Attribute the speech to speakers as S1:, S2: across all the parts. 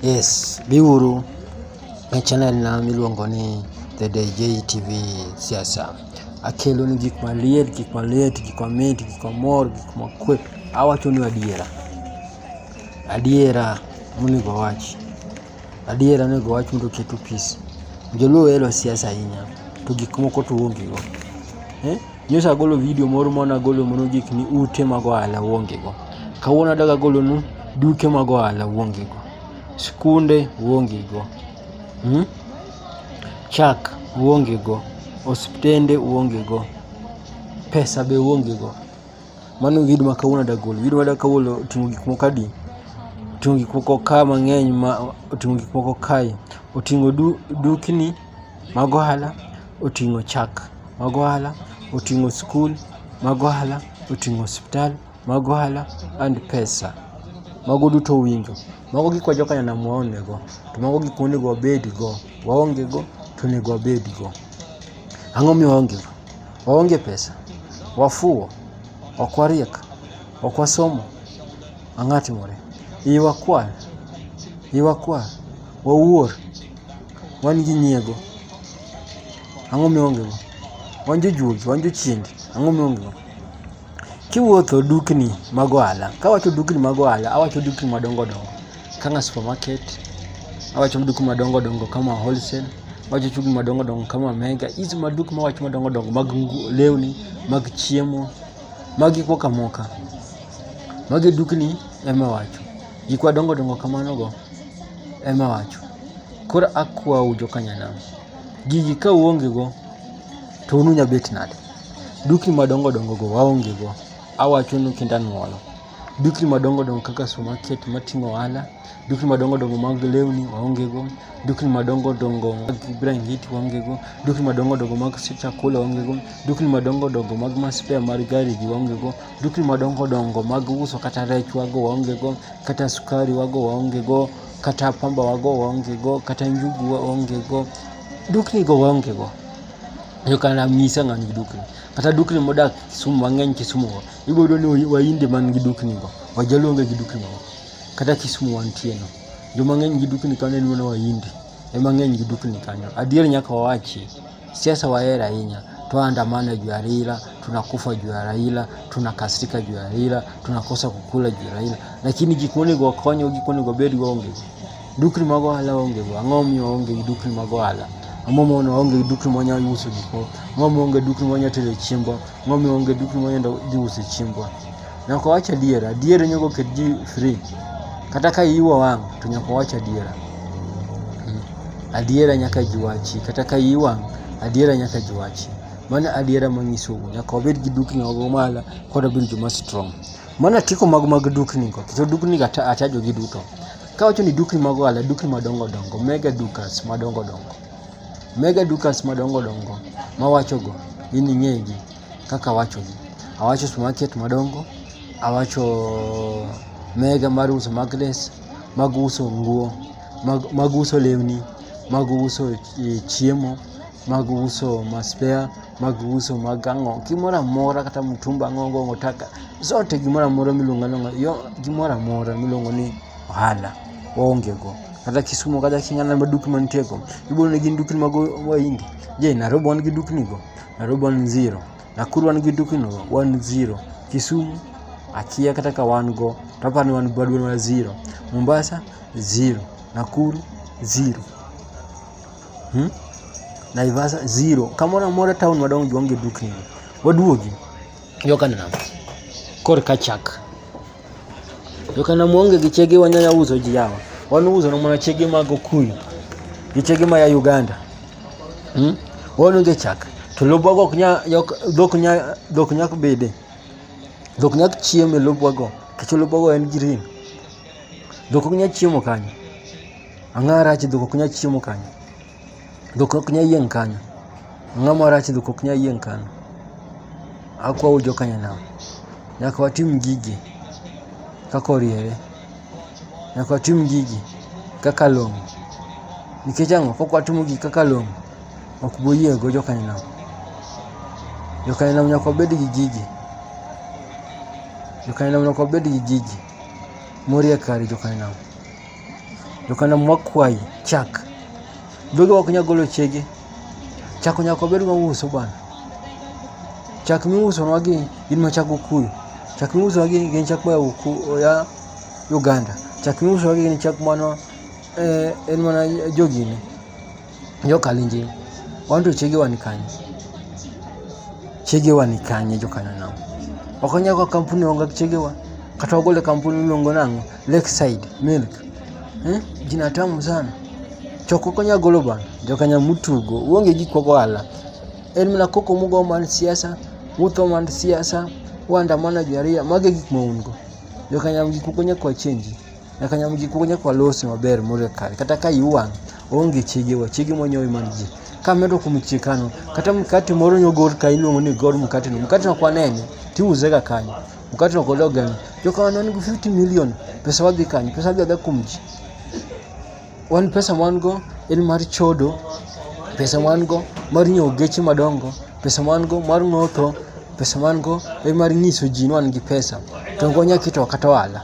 S1: Yes, biuru e channel na miluongo ni The DJ TV Siasa. Akelo ni gik maliet, gik maliet, gik mamit, gik mamor, gik makwe. Awacho ni adiera. Adiera monego wachi. Adiera onego wach mondo oketu peace. Joluo ohero siasa ahinya to gik moko to uongego. Eh? Nyocha agolo video moro mane agolo mono gik ni ute mag ohala uongego. Kawuono adag agolonu duke mag ohala uongego. Skunde uongego. Hmm? Chak uongego. Osiptende uongego. Pesa be uongego. Mano video ma kawuono ada golo. Video ada kawuono oting'o gik moko adi? Oting'o gik moko ka mang'eny ma oting'o gik moko kae. Oting'o du, dukni mag ohala, oting'o chak mag ohala, oting'o skul mag ohala, oting'o osiptal mag ohala and pesa. Mago duto winjo. Mago gik ma joka nyanam waonnego. To mago gik monego wabedgo. Waongego to onego wabedgo. Ang'o mi waonge? Waonge pesa, wafuwo, ok wariek, ok wasomo. Ang'o timore? Iwa kwal, iwa kwal, wawuor, wan gi nyiego. Ang'o mi waonge? Wan jojuogi, wan jochiende. Ang'o mi waonge? Kiwuotho dukni mag ohala, kawacho dukni mag ohala, awacho dukni madongo dongo. kanga supermarket awacho maduku madongo dongo kama wholesale awacho chugu madongo dongo kama mega hizi maduku mawacho madongo dongo mag lewni mag chiemo mag gik moko amoka magi dukni ema wacho gik madongo dongo kamano go ema wacho koro akwau jokanyanam gigi ka uonge go to ununya bet nade dukni madongo dongo go waonge go awachonu kinda nuolo dukni madongo dongo kaka supermarket matimo ohala, dukni madongo dongo mag lewni waonge go, dukni madongo dongo mag brangeti waonge go, dukni madongo dongo mag chakula waonge go, dukni madongo dongo mag maspea mar gari gi waonge go, dukni madongo dongo mag uso kata rech wago waonge go, kata sukari wago waonge go, kata pamba wago waonge go, kata njugu waonge go, dukni go waonge go. Yo kana misa ng'ani dukni. Kata dukni modak Kisumu mang'eny Kisumu go. Ibodo ni wainde man gi dukni go, wajaluo onge gi dukni go. Kata Kisumu wantie no. Joma ng'eny gi dukni kanyo en mana waindi. Ema ng'eny gi dukni kanyo. Adier nyaka wawachi, siasa wahero ahinya. Twaandamana juu ya Raila, tunakufa juu ya Raila, tunakasirika juu ya Raila, tunakosa kukula juu ya Raila. Lakini gik monego wakonygo, gik monego wabedgo onge go. Dukni mag ohala onge go. Ang'o momiyo waonge gi dukni mag ohala? Ang'o momiyo waonge gi dukni mwanyalo use gikwa? Ang'o momiyo waonge gi dukni mwanyalo tere chiembwa? ng'omi onge duk moyendo dhi uso chiembwa nyaka wach adier adier nyaka oket ji free kata ka iwa wang to nyaka wach adiera hmm. adiera nyaka ji wachi kata ka iwang adiera nyaka ji wachi mano adiera manyisou nyaka wabed gi dukni ogo mala kod wabed joma strong mano atiko mag mag dukni go kendo dukni ga achajo gi duto ka wacho ni dukni mag ohala dukni madongo dongo mega dukas madongo dongo Mega dukas madongo dongo mawachogo in ing'egi kaka awachogi. Awacho supermarket madongo, awacho mega mar uso magnes, mag uso nguo, mag, mag uso lewni, mag uso eh, chiemo, mag uso maspea, mag uso mag ang'o, gimoro amora kata mtumba ang'o go taka, zote gimoro amora miluongo alonga, yo gimoro amora miluongo ni ohala waonge go kata Kisumu kata Sing'ana ma dukni mantie go ibo ne gin dukni mag Wahindi. Je, Nairobi wan gi dukni go? Nairobi wan zero. Nakuru wan gi dukni go? Wan zero. Kisumu akia kata ka wan go to aparo ni wan bado wan zero. Mombasa zero. Nakuru zero. Hmm? Naivasha zero. Kamoro amora town madongo onge dukni go. Waduogi. Joka nam. Kor ka chak. To kana muonge gi chege wanyanya uso ji yawa. Wan uso no mana chege mag Okuyu. Gi chege ma ya Uganda. Hmm? Wan onge chak. To lobwa go ok nya yok- dhok nya dhok nyak bede. Dhok nyak chiemo e lobwa go. Kech lobwa go en green. Dhok ok nya chiemo kanyo. Ang'ara chi dhok ok nya chiemo kanyo. Dhok ok nya yieng' kanyo. Ang'o ma rach dhok ok nya yieng' kanyo? Akwau joka nyanam, nyaka watim gigi kaka oriere. Nyaka watim gigi kaka long'o. Nikech ang'o? Kok watimo gigi kaka long'o, ok bi yieng' go joka nyanam. Joka nyanam nyaka wabed gi gigi. Joka nyanam nyaka wabed gi gigi. Moriye kare joka nyanam. Jokana mwakwayi chak. Dhoge ok nyal golo chege. Chak nyaka obed ma uso bana. Chak miuso nwa gi gin ma chak okuyu. Chak miuso nwa gi gin chak ma ya Uganda. Chak miuso nwa gi gin chak mano en mana jogine. Jokalenjin, wan to chiege wan kanye? Chiege wan kanye jokanyo nang'o? Ok wanyal kawo kampuni onge gi chiege wan. Kata wagole kampuni miluongo nang'o? Lakeside Milk. Eh? Jina tamu sana. Choko ok wanyal golo bana. Jokanya mutugo. Uonge gi koko ala. En mana koko mugo mar siasa, mutho mar siasa, uandamana juu ya raia. Mage gik ma un go. Jokanya gik moko nyaka wachenji. Nyaka nyam gik moko nyaka walosi maber moriyo kare. Kata ka iwang' onge chege wa chege monyowi man ji. Ka medo kuom chikano, kata mkate moro nyogor ka iluongo ni gor mkate no. Mkate no kwanene, tiuze ga kanyo. Mkate no kodo gani. Joka wan go 50 million, pesa wadhi kanyo, pesa wadhi adha kuom ji. Wan pesa mwan go en mar chodo, pesa mwan go mar nyiewo geche madongo, pesa mwan go mar ng'otho, pesa mwan go en mar nyiso ji ni wan gi pesa. To ok wanyal keto kata ohala.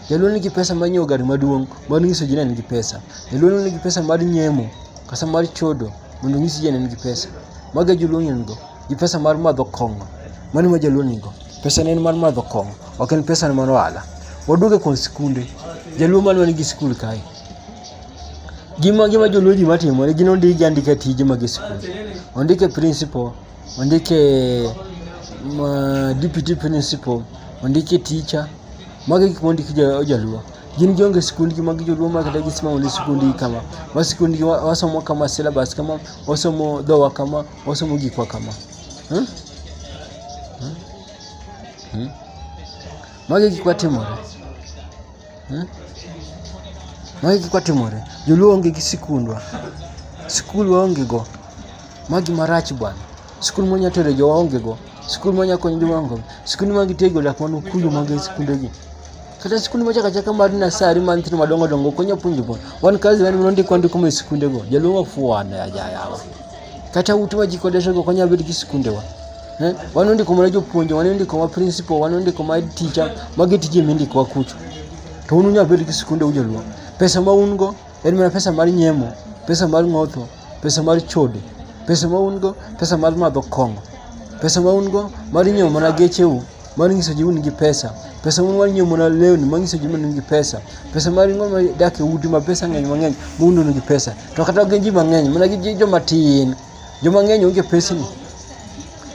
S1: Jaluo nigi pesa mar nyiewo gari maduong' mar nyiso ji ni en gi pesa. Jaluo nigi pesa mar nyemo kata mar chodo mondo onyis ji ni en gi pesa. Mago e joluo ng'eny go. Gi pesa mar madho kong'o. Mano ma jaluo nigo. Pesa ne en mar madho kong'o. Ok en pesa ne mar ohala. Waduoge kuom sikunde. Jaluo mane wan gi sikul kae. Gima gima joluo ji matimo gin ondik gi andika tije mag sikul. Ondik e principal. wanda yake ma deputy principal wanda yake teacher mago gik ma ondiki jaluo gin gionge sikundgi mag joluo ma kata gisima onge sikundgi kama wa sikundgi wasomo kama syllabus kama wasomo dhowa kama wasomo gikwa kama hmm? Hmm? Hmm? magi gik matimore Eh? Magi kik watimore. Joluo onge gi sikundwa. Sikul waonge go. Magi marach bwana. Sikul monya tere jo waonge go. Sikul monya konyo jo waonge go. Sikul ma gitego lak manu kuyo magi sikunde gi. Kata sikul mocha kacha kamar na sari man tino madongo dongo konya punjo go. Wan kazi wan munondi kwandi kuma sikunde go. Joluo wafuwa na ya ya. Kata utuwa jikodesha go konya bidki sikunde wa. Eh, wan ondiko mana jopuonje, wan ondiko ma principal, wan ondiko ma teacher, magi tije mindikowa kucho. To un unyalo bedo gi sikunde u joluo. Pesa ma un go en mana pesa mar nyemo, pesa mar ng'otho, pesa mar chode, pesa ma un go, pesa mar madho kong'o, pesa ma un go mar nyiewo mana gecheu, mar nyiso ji un gi pesa, pesa un mar nyiewo mana lewni ma nyiso ji ni un gi pesa, pesa mar ng'o ma dak e udi ma pesa ng'eny mang'eny ma un un gi pesa. To kata ok gin ji mang'eny, mana gin ji joma tin. Joma ng'eny onge pesni.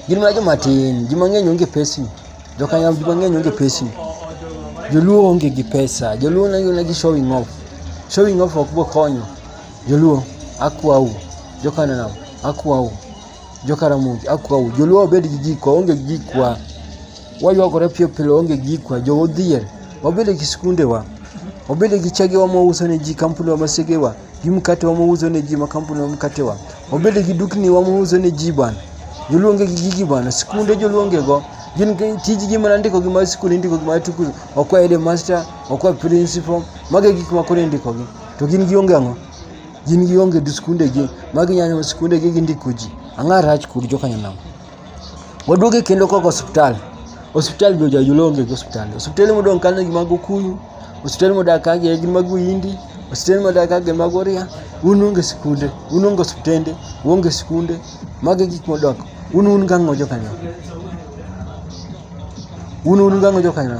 S1: Gin mana joma tin. Joma ng'eny onge pesni. Jokanyam joma ng'eny onge pesni. Joluo onge gi pesa. Joluo nang'ina gi showing off. Showing off ok bo konyo. Joluo akwau. Jokanam akwau. Jokaramogi akwau. Joluo obed gi gikwa onge gi gikwa. Waywagore piyo pile onge gi gikwa. Joodhier wabed gi skundewa. Wabed gi chegewa mwauso ne ji, kampundewa, masegewa. gi mkate wamouzo ne ji, makampuni wa mkate wa wabede gi dukni wamouzo ne ji bwana. Joluonge gi gigi bwana, sikunde joluonge go gin tijgi mana ndiko gi mar sikul indiko gi mar tukul okwa ede master okwa principal mage gik ma koro indiko gi to gin gi onge ang'o gin gi onge gi sikunde gi magi nyanyo sikunde gi gindiko ji ang'a rach kod joka nyanam Waduoge kendo koko osiptal. Osiptal be ojajulonge gi osiptal. Osiptal modong' kanyo gi mago Kuyu, osiptal modak ka gi gin mago Hindi, osiptal modak ka gi mago Ria. Un onge sikunde, un onge osiptende, uonge sikunde. Magi gik modok. Un un gang'o jo kanyo. Un un gang'o jo kanyo.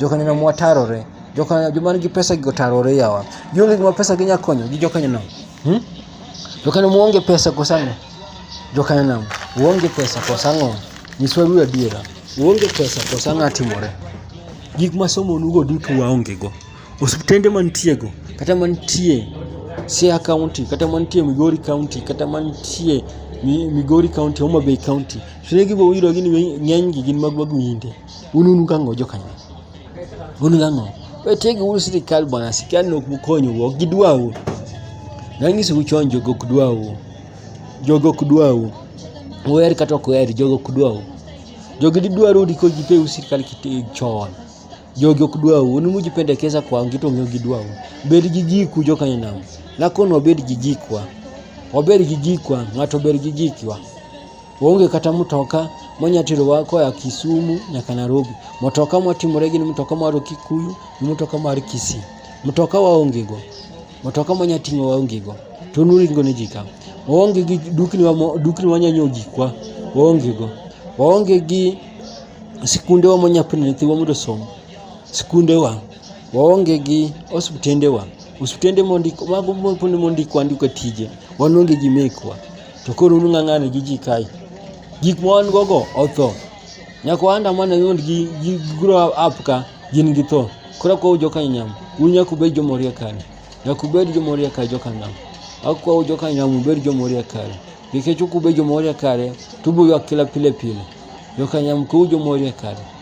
S1: Jokanyono mwa tarore. Jokanyono joma nigi pesa gi otarore yawa. Gionge gima pesa gi nyalo konyo gi jokanyono. Hmm? Jokanyono muonge pesa kosang'o. Jokanyono uonge pesa kosang'o. Nyiswa ru adiera. Uonge pesa kosang'o atimore. Gik ma somo nugo duto waonge go. Osiptende mantie go kata mantie Siaya County kata mantie Migori County kata mantie Migori County, Homa Bay County. Shule gi bo wiro gin ng'eny gi gin mag wagwinde. Un unu kang'o jokanyo? Un kang'o? Wetegi uru sirikal bwana, sirikal nok mukonyo ok gidwau. Nang'isi u chon jogo ok dwau. Jogo ok dwau. Uher kata ok uher, jogo ok dwau. Jogi didwaru ndiko jipe u sirikal kiti chon. Jogi ok dwau. Un mujipendekeza kwa wengine to ng'eyo gidwau. Bed gi jiku jokanyo nam. Nakono wabed gi jikwa. Wabed gi jikwa, ng'ato bed gi jikwa. Onge kata mtoka monya terowa koa Kisumu nyaka Nairobi. Mtoka mwatimore gin mtoka mar Kikuyu, mtoka mar Kisii. Mtoka waonge go. Mtoka monya ting'o waonge go. To nuringo ne ji ka. Waonge gi dukni wa dukni wanya nyiewo gikwa. Waonge go. Waonge gi sikunde wa monya puonjo nyithiwa mondo osom. Sikunde wa. Waonge gi osiptende wa. Osiptende mondik mago mondik andika tije. Wan onge gi mekwa. to koro un ng'ang'ani gi ji kae gik ma wan gogo otho nyaka wanda mana yond gi gi grow up ka gin gi tho koro kwa ujoka nyam un nyaka ubed jomoria kare nyaka ubed jomoria kare joka nam akwa ujoka nyam ubed jomoria kare nikech ok ubed jomoria kare to uboywak kila pile pile joka nyam kwa ujomoria kare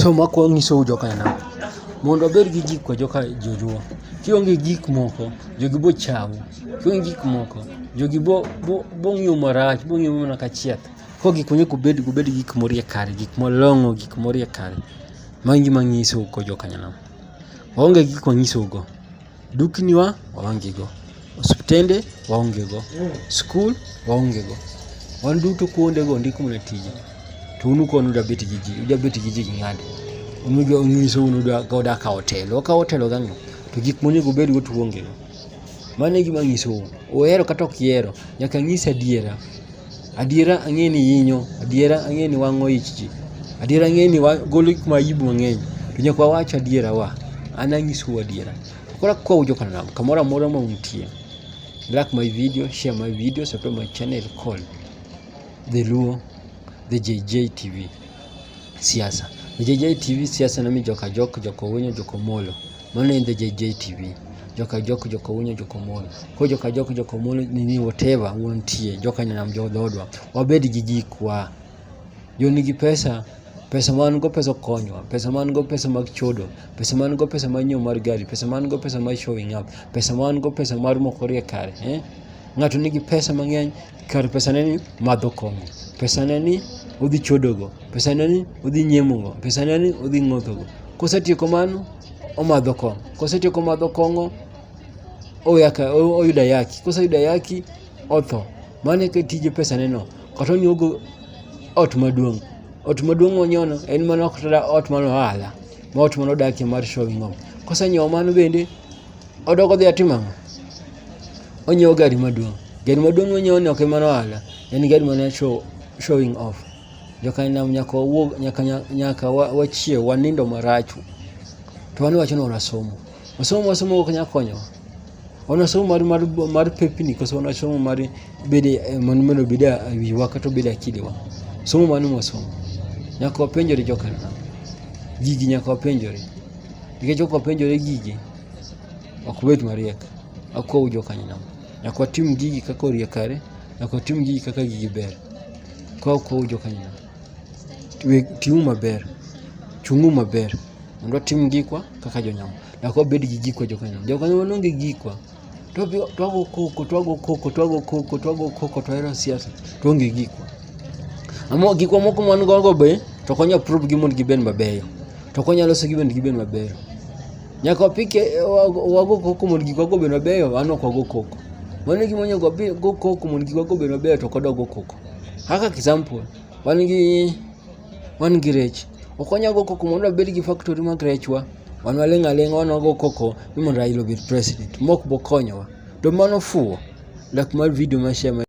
S1: So makwong nyiso u joka nam. Mondo abed gi gik kwa joka jojuo. Kionge gik moko, jogi bo chawu. Kionge gik moko, jogi bo bo bo ng'iyo marach, bo ng'iyo mana ka chieth. Ko gik moko kubed kubed gik morie kare, gik molong'o, gik morie kare. Magi gima nyiso uko joka nyanam. Waonge gik manyisou go. dukni wa waonge go, osiptende waonge go, skul waonge go. Wan duto kuonde go ndik mana tije. To unu kono uda bet gi ji, uda bet gi ji gi ng'ade. Unu jo unyiso unu da ka uda ka otelo, ka otelo gang'o. To gik monego bed go tuonge go. Mano e gima nyisou. Uhero kata ok ihero, nyaka nyis adiera. Adiera ang'e ni yinyo, adiera ang'e ni wang'o ich ji, adiera ang'e ni golo gik ma aibu mang'eny, to nyaka wawach adiera wa, an anyisou adiera. Koro akwau jokanam, kamoro amora ma untie, like my video, share my video, subscribe my channel called The Luo, The JJ TV, Siasa. The JJ TV, Siasa nami joka jok, joka owinyo, joka omolo. Mano in the JJTV. Joka jok joka unyo joka mon. Ko joka jok joka mon nini whatever wuon tie. Joka nyanam jo dodwa. Wabed gi jikwa. Jo nigi pesa pesa man go pesa konywa pesa man go pesa mag chodo pesa man go pesa mar nyiewo mar gari pesa man go pesa mar showing up pesa man go pesa mar moko rie kare eh? ng'ato nigi pesa mang'eny kar pesaneni madho kong'o, pesaneni udhi chodogo, pesaneni udhi nyiemogo, pesaneni udhi ng'othogo. Kosetieko mano, omadho kong'o. Kosetieko madho kong'o, oyaka, o- oyudo ayaki. Koseyudo ayaki, otho. Mano eka tije pesaneno. Kata onyiewogo ot maduong'. Ot maduong' monyono en mana ok kata ot mar ohala, ma ot mane odakie mar showing off. Kosenyiewo mano bende, odok odhi atimo ang'o? onyiewo gari maduong'. Gari maduong' monyiewo ni ok emano ohala, en gari mana show, showing off. Jokanam nyaka wawuog, nyaka, nyaka wachiew, wanindo marach. To wan wacho ni wanasomo. Wasomo wasomo ok nyal konyowa. Wanasomo mar, mar, mar pepni koso wanasomo mar bede, eh, mano mondo bede e wiwa kata obede akidewa. Somo mano mwasomo. Nyaka wapenjore jokanam. Gigi nyaka wapenjore. Nikech ok wapenjore gigi, ok wabed mariek ok waw jokanyono nyaka watim gigi kaka oriek kare nyaka watim gigi kaka gigi ber ka ok waw jokanyono ting'u maber chung'u maber mondo watim gikwa kaka jonyamo nyaka wabed gi gikwa jokanyono jokanyo manonge gikwa to wabi- twago koko twago koko twago koko twago koko to wahero siasa to onge gikwa Amo gikwa moko man gogo be to konyo approve gi mondo gibed mabeyo to konyo loso gi mondo gibed mabeyo Nyaka wapik eh, wago koko mondo gik wago obed mabeyo, an ok wago koko. Mano e gima onego wago koko mondo gik wago obed mabeyo to ok wadwa go koko. Kaka example, wan gi wan gi rech. Ok wanyal go koko mondo wabed gi factory mag rechwa. Wan waling' aling'a wan wago koko ni mondo Raila obed president. Mok bokonyowa. To mano fuwo. Lak mar video ma share